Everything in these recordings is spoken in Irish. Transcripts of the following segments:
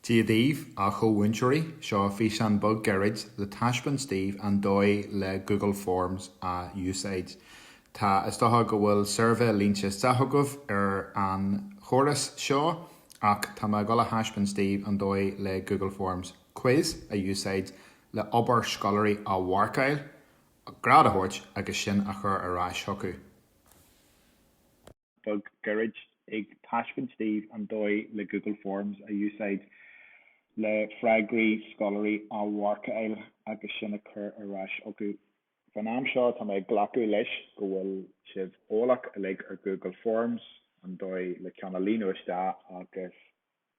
Dia daoibh, a chomh-mhúinteoirí, seo físeán beag gairid le taispeáint daoibh an dóigh le Google Forms a úsáid. Tá, is dócha go bhfuil suirbhé líonta isteach agaibh ar an chóras seo, ach tá mé ag dul a thaispeáint daoibh an dóigh le Google Forms Quiz a úsáid le obair scoláirí a mharcáil, grád a thabhairt agus sin a chur ar ais chucu. beag gairid ag taispeaint daoibh an dóigh le Google Forms a úsáid le freagraí scoláirí a mharcáil agus sin a chur ar ais chucu. Fán am seo tá mé ag glacadh leis go bhfuil sibh eolach uilig ar Google Forms, an dóigh le ceann a líonadh isteach agus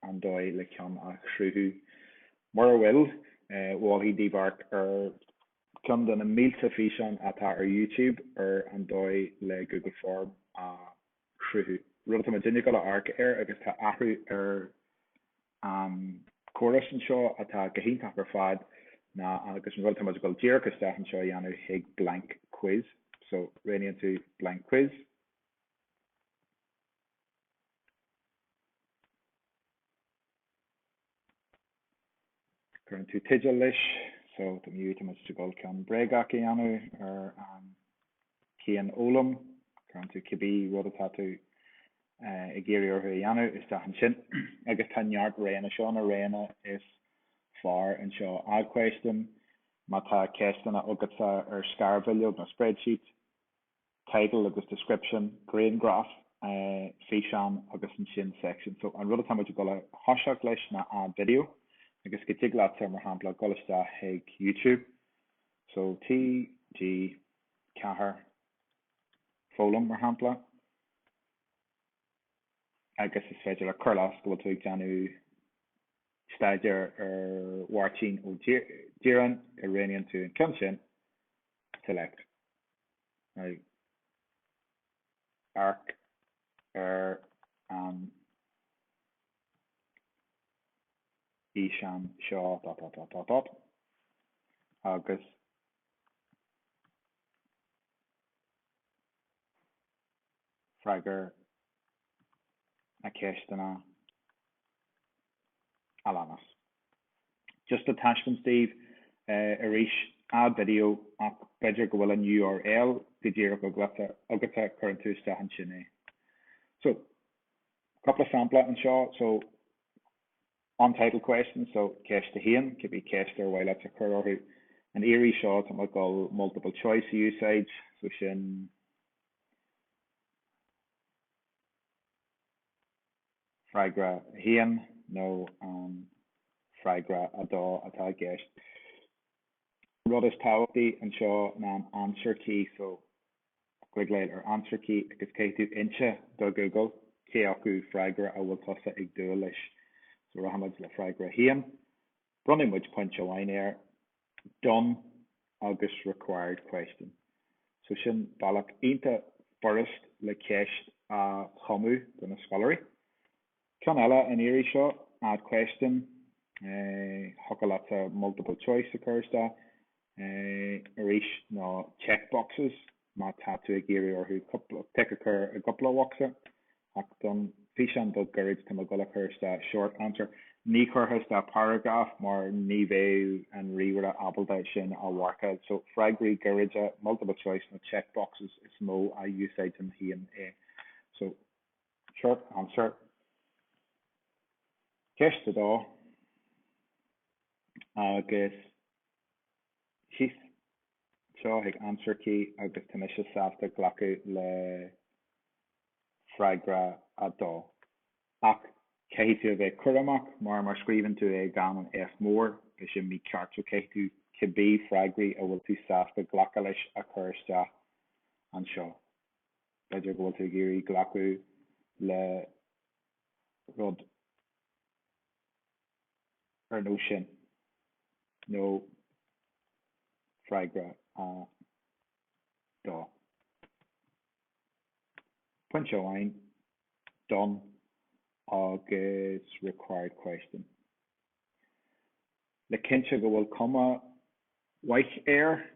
an dóigh le ceann a chruthú. Mura bhfuil, mholfainn daoibh amharc ar. ceann de na mílte físeán atá ar YouTube ar an dóigh le Google Form a chruthú, rud atá muidinne ag dul a amharc air agus tá athrú ar an chóras anseo atá go hiontach ar fad ná agus an rud atá muid ag dul díreach isteach anseo a dhéanamh chuig blank quiz so roghnaíonn tú blank quiz cuireann tú teideal leis so tá mí- tá muid ag dul ceann bréagach a dhéanamh ar an chianfhoghlaim cuireann tú cibé rud atá tú ag iarraidh orthu a dhéanamh isteach ansin agus tá neart roghanna seo na roghanna is fearr anseo add question má tá ceisteanna agatsa ar scarbhileog nó spreadsheet title agus description, griangraf, físeán agus ansin section. So an rud atá muid ag dul a thoiseacht leis ná add video agus go dtig leat mar shampla dul isteach chuig YouTube. So TG4 foghlaim mar shampla. agus is féidir linn cur i gcás go bhfuil tú ag déanamh staidéar ar Mháirtín Ó Direáin roghnaíonn tú an ceann sin select. Amharc ar an fhíseán seo agus freagair na ceisteanna a leanas. Just le taispeáint daoibh arís, add video, ach b'fhéidir go bhfuil an url go díreach agatsa, cuireann tú isteach ansin é. So, cúpla sampla anseo, so, untitled question, so, ceist a haon, cibé ceist ar mhaith leat a chur orthu. An iarraidh seo, tá mé ag dul multiple choice a úsáid, so sin, freagra 1 nó an freagra 2 atá i gceist. An rud is tábhachtaí anseo ná an answer key, so cliceáil ar answer key agus caithfidh tú inse do Google cé acu freagra a bhfuil tusa ag dúil leis. So rachaimid le freagra 1. Bronnfaidh muid pointe amháin air. done agus required question. So sin bealach iontach furasta le ceist a chumadh do na scoláirí. Ceann eile an iarraidh seo, add question, thiocfadh leatsa multiple choice a chur isteach arís nó check boxes Má tá tú ag iarraidh orthu tic a chur i gcúpla bhocsa, ach don físeán beag gairid tá mé ag gabháil a chur isteach short answer. Ní chuirfeá isteach paragraf mar ní bheadh an ríomhaire ábalta é sin a mharcáil. So freagraí gairide, multiple choice nó check boxes is mó a úsáidim féin é. So short answer. Ceist a dó, agus thíos síos ag answer key agus tá mise sásta glacadh le freagra 2. Ach caithfidh tú a bheith cúramach mar má scríobhann tú é gan an F mór is é mícheart so caithfidh tú cibé freagraí a bhfuil tú sásta glacadh leis a chur isteach anseo. B'fhéidir go bhfuil tú ag iarraidh glacadh le rud ar nós sin nó freagra 2. Pointe amháin, done agus required question. Le cinntiú go bhfuil cuma mhaith air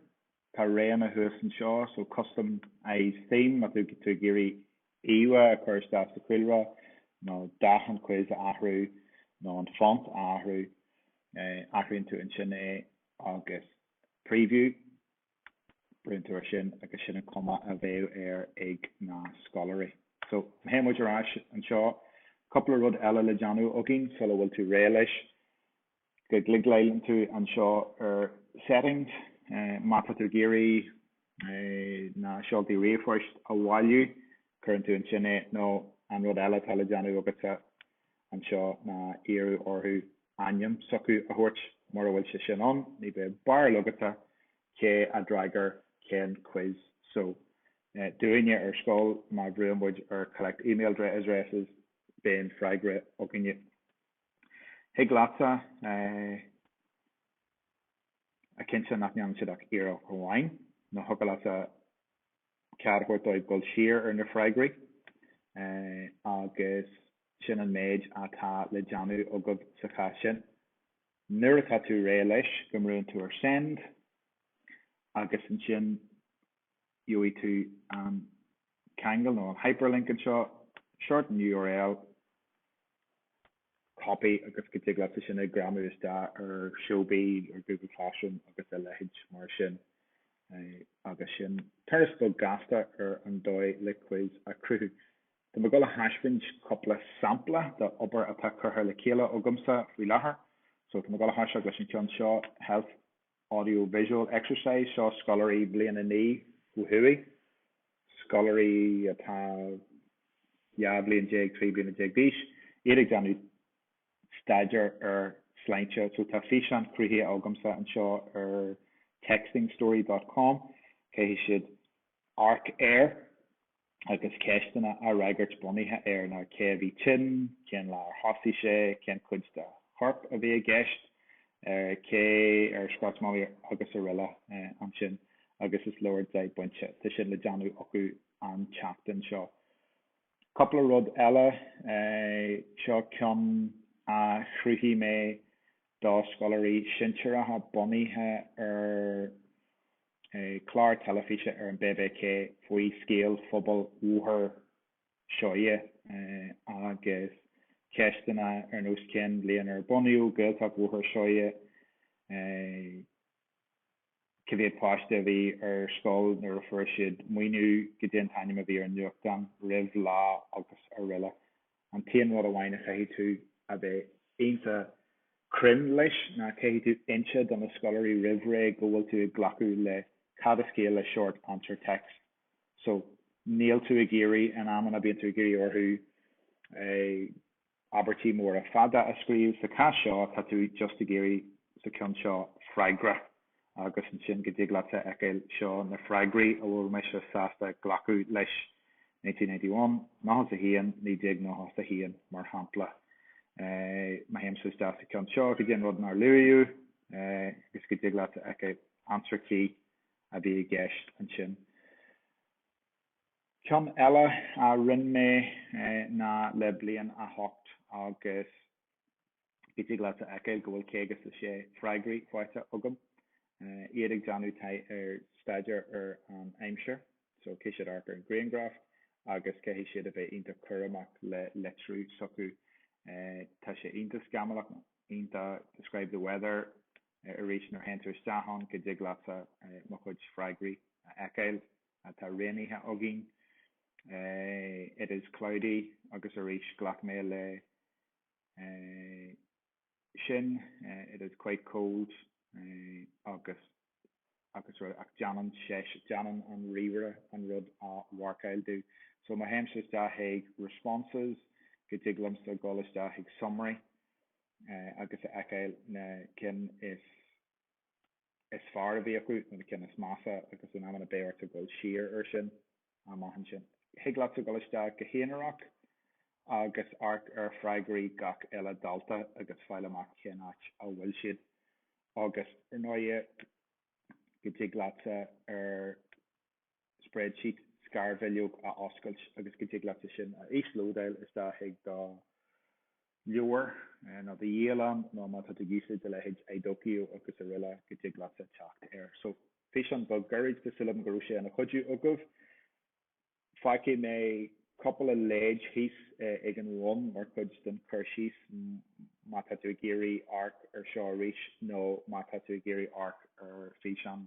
Tá roghanna thuas anseo, so customise theme, má tá tú ag iarraidh íomhá a chur isteach sa chúlra, nó dath an quiz a athrú, nó an font a athrú, athraíonn tú ansin é agus preview, brúnn tú air sin agus sin an cuma a bheidh air ag na scoláirí. So, má théann muid ar ais anseo, cúpla rud eile le déanamh againn sula bhfuil tú réidh leis. go gcliceálann tú anseo ar Settings, má tá tú ag iarraidh na seoltaí ríomhphoist a bhailiú, cuireann tú ansin é, nó an rud eile atá le déanamh agatsa anseo ná iarraidh orthu ainm s'acu a thabhairt, mura bhfuil sé sin ann, ní bheidh barúil agat cé a d'fhreagair cén quiz. So, dúinne ar scoil, má bhrúann muid ar Collect Email Addresses, bíonn freagra againne. Thig leatsa a chinntiú nach ndéanann siad ach iarracht amháin, nó thiocfadh leatsa cead a thabhairt dóibh dul siar ar na freagraí agus sin an méid atá le déanamh agaibh sa chás sin. Nuair atá tú réidh leis go mbrúann tú ar Send agus ansin. Gheobhaidh tú an ceangal nó an hyperlink anseo, shorten url, copy agus go dtig leatsa sin a ghreamú isteach ar Showbie ar Google Classroom agus a leithéid mar sin. Agus sin turas beag gasta ar an dóigh le quiz a cruthú. Tá mé ag dul a thaispeáint cúpla sampla de obair atá curtha le chéile agamsa faoi láthair. So tá mé ag dul a thoiseacht leis an cheann seo, health. audio visual exercise Seo scoláirí bhliain a naoi ó thuaidh, scoláirí atá dhá bhliain déag, trí bliana déag d'aois, iad ag déanamh staidéar ar sláinte. So tá físeán cruthaithe agamsa anseo ar textingstory dot com. Caithfidh siad amharc air. agus ceisteanna a fhreagairt bunaithe ar ná cé a bhí tinn, cén lá ar thosaigh sé, cén chuid dá chorp a bhí i gceist, ar cé ar scairt Molly agus araile. Ansin, agus is leor deich bpointe, tá sin le déanamh acu an tseachtain seo. Cúpla rud eile, seo ceann a chruthaigh mé do scoláirí sinsearacha bunaithe ar clár teilifíse ar an BBC faoi scéal phobal Bhóthar Seoighe agus ceisteanna ar nós cén bhliain ar bunaíodh Gaeltacht Bhóthar Seoighe, cé mhéad páiste a bhí ar scoil nuair a fuair siad maoiniú, cad é an t-ainm a bhí ar an nuachtán roimh Lá agus araile. An t-aon rud amháin a chaithfidh tú a bheith iontach cruinn leis ná caithfidh tú inse do na scoláirí roimh ré go bhfuil tú ag glacadh le cad is ciall le Short Answer Text so níl tú ag iarraidh, in amanna bíonn tú ag iarraidh orthu eh. abairtí móra fada a scríobh, sa chás seo tá tú just ag iarraidh sa cheann seo freagra. agus ansin go dtig leatsa fheiceáil seo na freagraí a bhfuil mise sásta glacadh leis, 1991, 91, 1991, mar shampla. Má théimse isteach sa cheann seo go dtí an rud nár luadh agus go dtig leatsa fheiceáil answer key a bhí i gceist ansin. Ceann eile a rinne mé ná le bliain a hocht agus Go dtig leat a fheiceáil go bhfuil caoga is a sé freagraí faighte agam, iad ag déanamh tithe ar staidéar ar an aimsir, so caithfidh siad amharc ar an griangraf agus caithfidh siad a bheith iontach cúramach le litriú s'acu. Tá sé iontach scamallach, iontach describe the weather arís nuair a théann tú isteach ann go dtig leatsa mo chuid freagraí a fheiceáil. Tá rainy day againn, it is cloudy agus arís ghlac mé le, sin, it is quite cold agus agus rud ach déanann seis, déanann an ríomhaire an rud a mharcáil domh. So má théimse isteach chuig responses go dtig liomsa dhul isteach chuig summary agus a fheiceáil na cinn is, is fearr a bhí acu nó na cinn is measa agus in amanna beidh ortsa dul siar air sin amach ansin. Thig leatsa dul isteach go haonarach agus amharc ar freagraí gach uile dalta agus fáil amach cén áit a bhfuil siad agus ar ndóigh go dtig leatsa ar spreadsheet, scarbhileog a oscailt agus go dtig leatsa sin a íoslódáil isteach chuig do leabhar nó do dhialann nó má tá tú ag úsáid a leithéid iDoceo agus araile go dtig leatsa teacht air. So físeán beag gairid tá súil agam go raibh sé ina chuidiú agaibh. Fágfaidh mé cúpla leid thíos ag an bhun mar chuid den chur síos má tá tú ag iarraidh amharc ar seo arís nó má tá tú ag iarraidh amharc ar físeán.